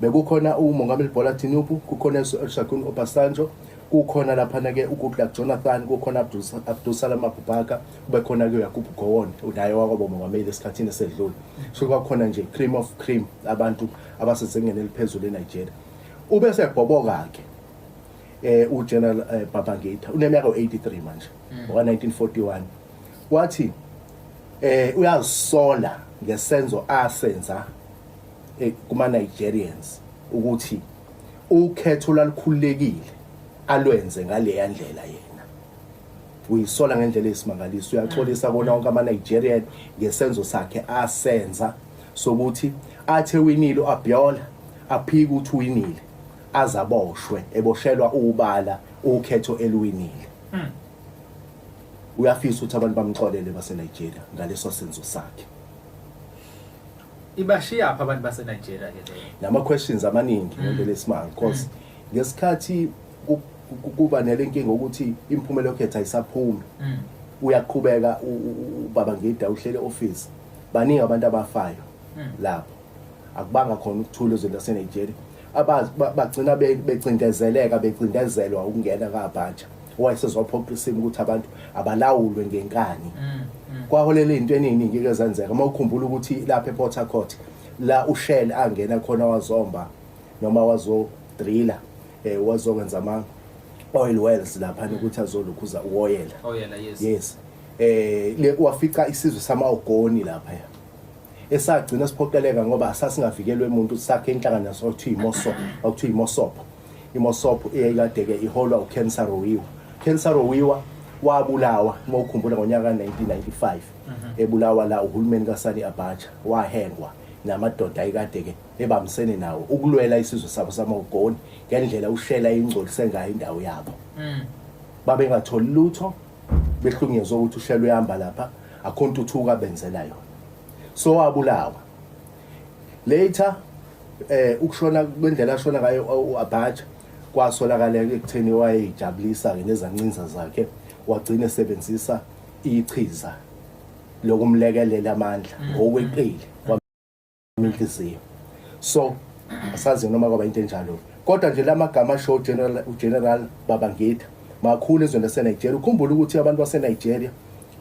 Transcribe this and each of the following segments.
bekukhona umongameli Bola Tinubu kukhona uShagun Obasanjo kukhona laphana ke uGoodluck Jonathan kukhona Abdul Salam Abubakar kube khona ke uYakubu Gowon unaye wakwabo mongameli esikhathini esedlule so kwakhona nje cream of cream abantu abasezingeni eliphezulu eNigeria ube sebhoboka ke eh uGeneral eh, Babangida uneminyaka 83 manje hmm. wa 1941 wathi eh uyazisola ngesenzo asenza eh, kuma Nigerians ukuthi ukhetho lalikhululekile alwenze ngaleya ndlela yena uyisola ngendlela esimangaliso uyaxolisa kona wonke ama-nigerian ngesenzo sakhe asenza sokuthi athe winile u-abiola aphike ukuthi uwinile azaboshwe eboshelwa ubala ukhetho eliwinile hmm. uyafisa ukuthi abantu bamxolele basenigeria ngaleso senzo sakhe ibashiya pha abantu base Nigeria ke leyo nama questions amaningi mm. ngento lesimanga because mm. ngesikhathi kuba nelenkinga ukuthi imphumela yokhetha isaphumi mm. uyaqhubeka ubaba ngida uhlele office baningi abantu abafayo lapho akubanga khona ukuthula ezweni lase Nigeria abagcina becindezeleka becindezelwa ukungena kabhaja wayesezophoqa isimo ukuthi abantu abalawulwe ngenkani mm, mm. kwaholela into eningi ke zenzeka uma ukhumbula ukuthi lapha ePort Harcourt la uShell angena khona wazomba noma wazo driller eh wazokwenza ama oil wells lapha mm. ukuthi azolukhuza uoyela oyela oh, yes yes eh le wafica isizwe sama ogoni lapha esagcina siphoqeleka ngoba sasingavikelwe umuntu sakhe inhlangano sokuthiwa imoso okuthiwa imosopo IMosop eyayikadeke iholwa uKensa Rowiwa. Kensa Rowiwa wabulawa uma ukhumbula ngonyaka ka-1995 mhm. ebulawa la uhulumeni kasani abatsha wahengwa namadoda ayikade-ke ebambisene nawo ukulwela isizwe sabo samawugoni ngendlela ushela ingcolise ngayo indawo yabo mm. babengatholi lutho behlunyezwa ukuthi ushela uyahamba lapha akho ntuthuko abenzela yona so wabulawa Later eh ukushona kwendlela ashona ngayo uAbacha kwasolakala ekutheni wayejabulisa ke nezancinza zakhe wagcina esebenzisa ichiza lokumlekelela amandla mm. ngokweqile kwaminhliziyo so asazi noma kwaba into enjalo kodwa nje lamagama show general ugeneral babangitha makhulu ezweni laseNigeria ukhumbula ukuthi abantu baseNigeria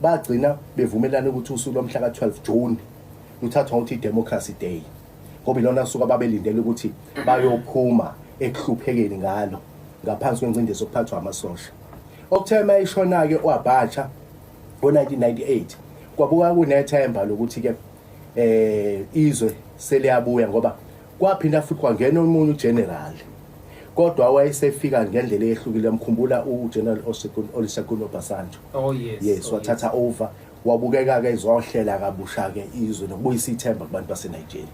bagcina bevumelana ukuthi usuku lomhla ka-12 June Kuthathwa ukuthi i-democracy day ngoba ilona suku ababelindele ukuthi bayophuma ekuhluphekeni ngalo ngaphansi kwencindezi okuphathwa amasosha okuthe uma eshona-ke uabatsha ngo-1998 kwabuka kunethemba lokuthi-ke eh izwe seliyabuya ngoba kwaphinda futhi kwangena omunye ugeneral kodwa wayesefika ngendlela eyehlukile mkhumbula ugeneral Olusegun Obasanjo oh yes yes oh, wathatha over Wabukeka-ke ezwahlela kabusha-ke izwe nokubuyisa ithemba kubantu baseNigeria.